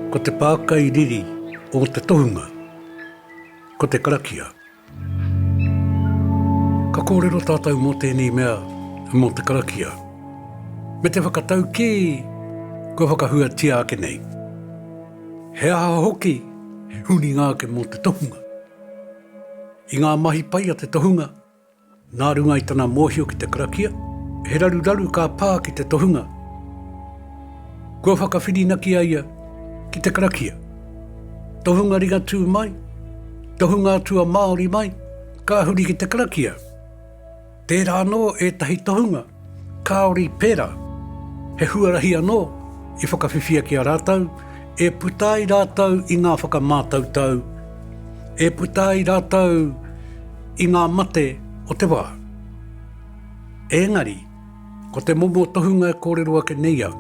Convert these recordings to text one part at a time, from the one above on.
Ko te pākai riri o te tohunga, ko te karakia. Ka kōrero tātou mō tēnei mea, mō te karakia. Me te whakatau kē, kua whakahuatia ake nei. He aha hoki he huringa ake mō te tohunga? I ngā mahi pai a te tohunga, nā runga i tana mōhio ki te karakia, he raruraru ka pā ki te tohunga kua whakawhirinaki a ia ki te karakia. Tohunga ringatū mai, tohunga atua Māori mai, ka huri ki te karakia. Tērā anō ētahi tohunga Kāori pērā, he huarahi anō i whakawhiwhia ki a rātou, e puta ai rātou i ngā whakamātautau, e puta ai rātou i ngā mate o te wā. Ēngari, ko te momo tohunga e kōrero ake nei au,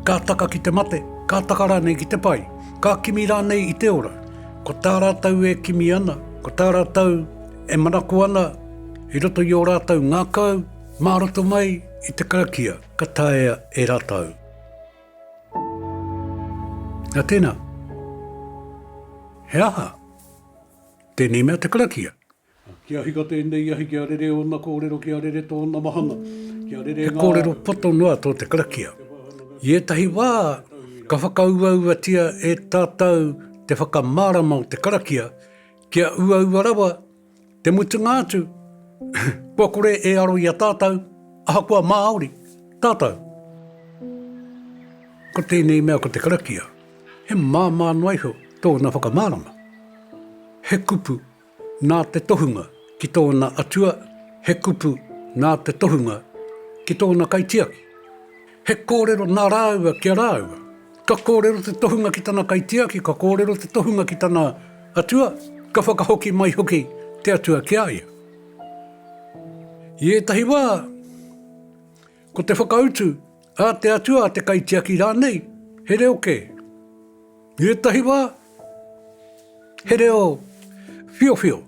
ka taka ki te mate, ka taka rānei ki te pai, ka kimi rānei i te ora, ko tā rātou e kimi ana, ko tā rātou E manako ana i roto i ō rātou ngākau mā roto mai i te karakia ka taea e rātou. Nā tēnā, he aha tēnei mea te karakia? Kia hika tēnei ahi, kia rere ōna kōrero, kia rere tōna mahana, kia rere ngā... He kōrero poto noa tō te karakia. I ētahi wā, ka whakauauatia e tātou te whakamārama o te karakia, Kia uaua rawa, te mutunga atu, kua kore e aro i a tātou, ahakoa Māori tātou. Ko tēnei mea ko te karakia, he māmā noa iho tōna whakamārama. He kupu nā te tohunga ki tōna atua, he kupu nā te tohunga ki tōna kaitiaki. He kōrero nā rāua ki a rāua. Ka kōrero te tohunga ki tana kaitiaki, ka kōrero te tohunga ki tana atua, ka whakahoki mai hoki te atua ki a ia. I ētahi wā, ko te whakautu a te atua, a te kaitiaki rānei, he reo kē. I ētahi wā, he reo whiowhio.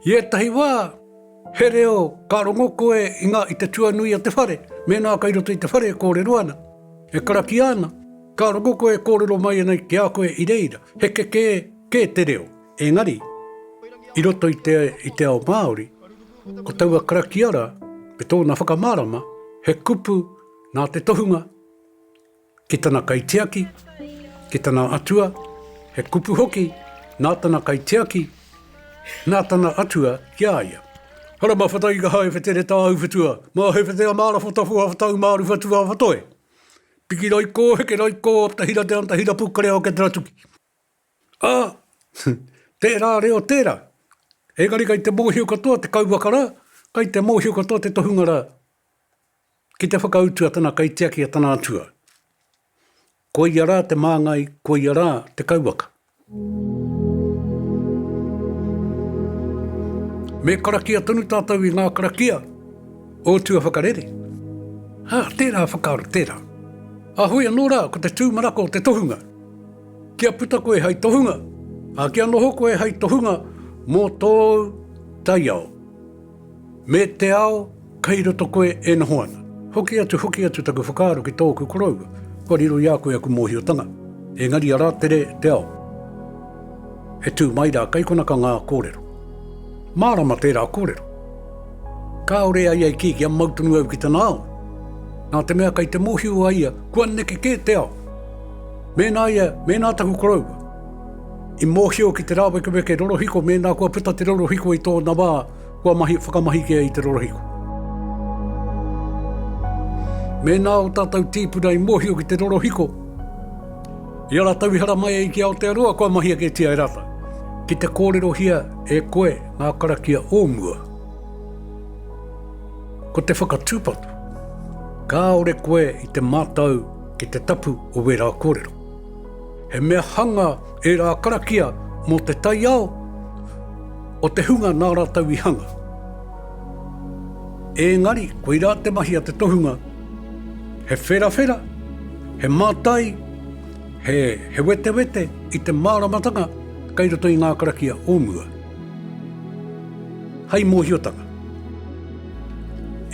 I ētahi wā, he reo ka rongo koe i ngā i te tuanui o te whare, mēnā kei roto i te whare e kōrero ana, e karakia ana, ka rongo koe e kōrero mai ana ki a koe i reira, he kekē kē te reo. Engari, i roto i te i te ao Māori, ko taua karakia rā, me tōna whakamārama, he kupu nā te tohunga, ki tana kaitiaki, ki tana atua, he kupu hoki nā tana kaitiaki, nā tana atua ki a ia. Hara ma whata i ka hae whete re tāu whetua, ma he whete a māra whata whoa whatau māru whatu a whatoe. Piki rai kō, heke rai kō, apta hira te anta hira pukare ao ke tera tuki. A, tērā reo tērā. Engari kai te mōhio katoa te kauwaka rā, kai te mōhio katoa te tohunga rā. Ki te whakautu a tana kaitiaki a tana atua. Ko ia rā te māngai, ko ia rā te kauwaka. Me karakia tonu tātou i ngā karakia o tua whakarere. Ā, tērā whakaaro, tērā. Ā, hoi anō rā, ko te tūmanako o te tohunga. Kia puta koe hei tohunga, ā, kia noho koe hei tohunga mō tōu taiao. Me te ao kei roto koe e noho ana. Hoki atu, hoki atu taku whakaaro ki tōku koroua, kua riro i a koe aku mōhiotanga, engari arā tere te ao. E tū mai rā, kei konaka ngā kōrero. Mārama tērā kōrero. Kāore a ia i kī kia mau tonu au ki tana ao. Nā te mea kei te mōhio a ia, kua neke kē te ao. Mēnā ia, mēnā taku koroua. I mōhio ki te rāwekeweke rorohiko mēnā kua puta te rorohiko i tōna wā, kua mahi whakamahi kē i te rorohiko. Mēnā ō tātou tīpuna i mōhio ki te rorohiko, i a rātou i haramai ai ki Aotearoa, kua mahi aketia e rātou. Ki te kōrerohia e koe ngā karakia o mua. Ko te whakatūpato, kāore koe i te mātau ki te tapu o wērā kōrero. He mea hanga ērā karakia mō te taiao o te hunga nā rātou i hanga. Ēngari, koirā te mahi a te tohunga, he wherawhera, he mātai, he, he wetewete i te māramatanga kei roto i ngā karakia o mua. Hei mōhiotanga.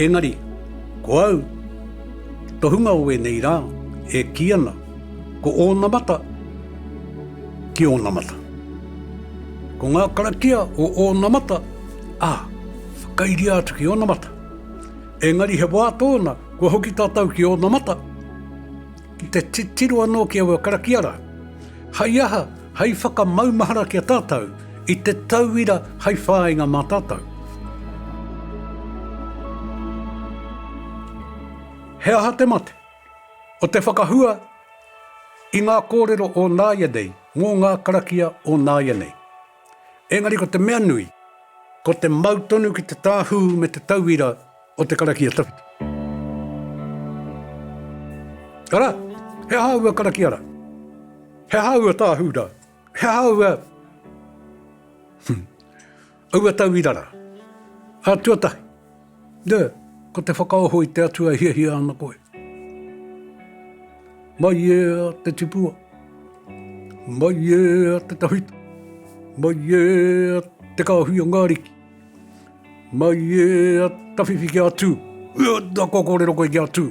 Ēngari, ko au, tohunga o ēnei rā, e kī ana, Ko onamata ki onamata. Ko nga karakia o onamata, a, whakairia atu ki onamata. Engari he wa tona kua hoki tatou ki onamata, ki te titiro ano ki aua karakia ra. Hai aha, hai whakamaumahara ki a tatou i te tauira hai whainga ma tatou. He aha te mate? O te whakahua i ngā kōrero o nāianei mō ngā karakia o nāianei. Engari ko te mea nui, ko te mau tonu ki te tāhū me te tauira o te karakia tawhito. Arā, he aha aua karakia rā? He aha aua tāhū rā? He aha aua... Aua tauira rā. Ā, tuatahi, nē, ko te whakaoho i te Atua e hiahia ana koe. Mai ē a te tipua, mai ē a te tawhito, mai ē a te kāhui o ngā ariki, mai ē a tawhiwhi ki a Tū, ē, nā kua kōrero koe ki a Tū,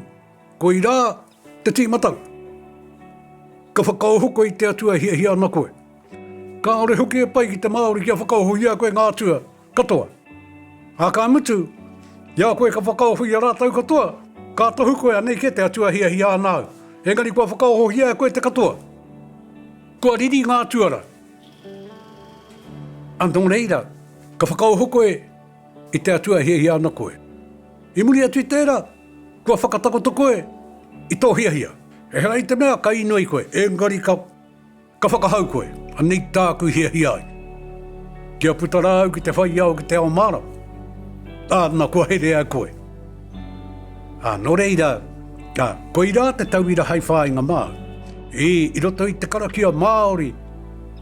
koirā, Te Tīmatanga. Ka whakaohoko i te Atua e hiahia ana koe. Kāore hoki e pai ki te Māori kia whakaoho i a koe ngā atua katoa. Ā, ka mutu, i a koe ka whakaoho i a rātou katoa, ka tohu koe anei kē te Atua e hiahia ana au, engari kua whakaohohia e koe te katoa. Kua riri ngā tuara. Ā, nō reira, ka whakaoho koe. I te Atua e hiahia ana koe. I muri atu i tērā, kua whakatakoto koe i tō hiahia. Ehara i te mea ka inoi i koe, engari ka, ka whakahau koe, Anei tāku i hiahia ai, kia puta rā au ki te whaiao ki te ao mārama, ā, na, kua herea e koe. Ā, nō reira, ā, koirā te tauira hai whāinga māu. Ī, i roto i te karakia Māori,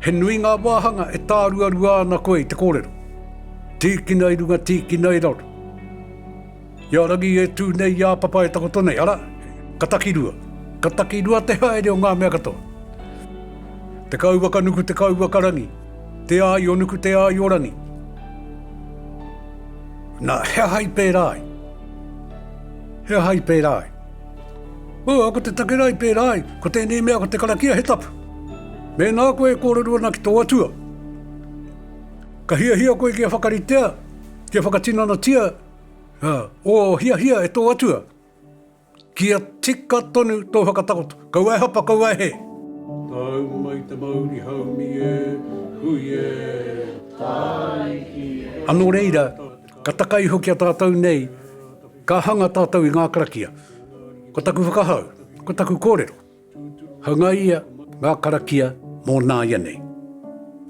he nui ngā wāhanga e tāruarua ana koe i te kōrero. Tīkina i runga, tīkina i raro. I a rangi e tū nei, i a papa e takoto nei, ara, ka takirua. Ka takirua te haere o ngā mea katoa. Te kauwaka nuku, te kauwaka rangi. Te Āionuku Te Āiorangi Na, he aha i pērā ai? He aha i pērā ai? Oh, ko te take rā i pērā ai, ko tēnei mea, ko te karakia, he tapu. Mēnā koe e kōrero ana ki tō atua, ka hiahia koe kia whakaritea, kia whakatinanatia, uh, o hiahia e tō atua. Kia tika tonu tō whakatakoto. Kaua e hapa, kaua e hē. Tau mai te mauri haumi e, hui e, tae ki e. Anō reira, ka taka iho ki a tātou nei, ka hanga tātou i ngā karakia. Ko taku whakahau, ko taku kōrero, hangaia ngā karakia mō nāianei.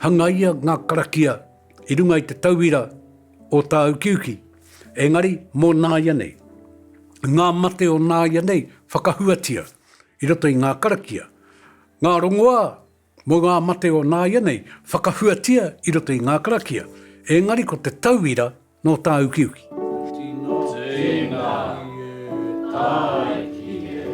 Hangaia ngā karakia i runga i te tauira o tā ukiuki. Engari, mō nāianei, ngā mate o nāianei whakahuatia i roto i ngā karakia, ngā rongoā mō ngā mate o nāianei whakahuatia i roto i ngā karakia, engari ko te tauira nō tāukiuki. Tino tēina ki e tae ki e.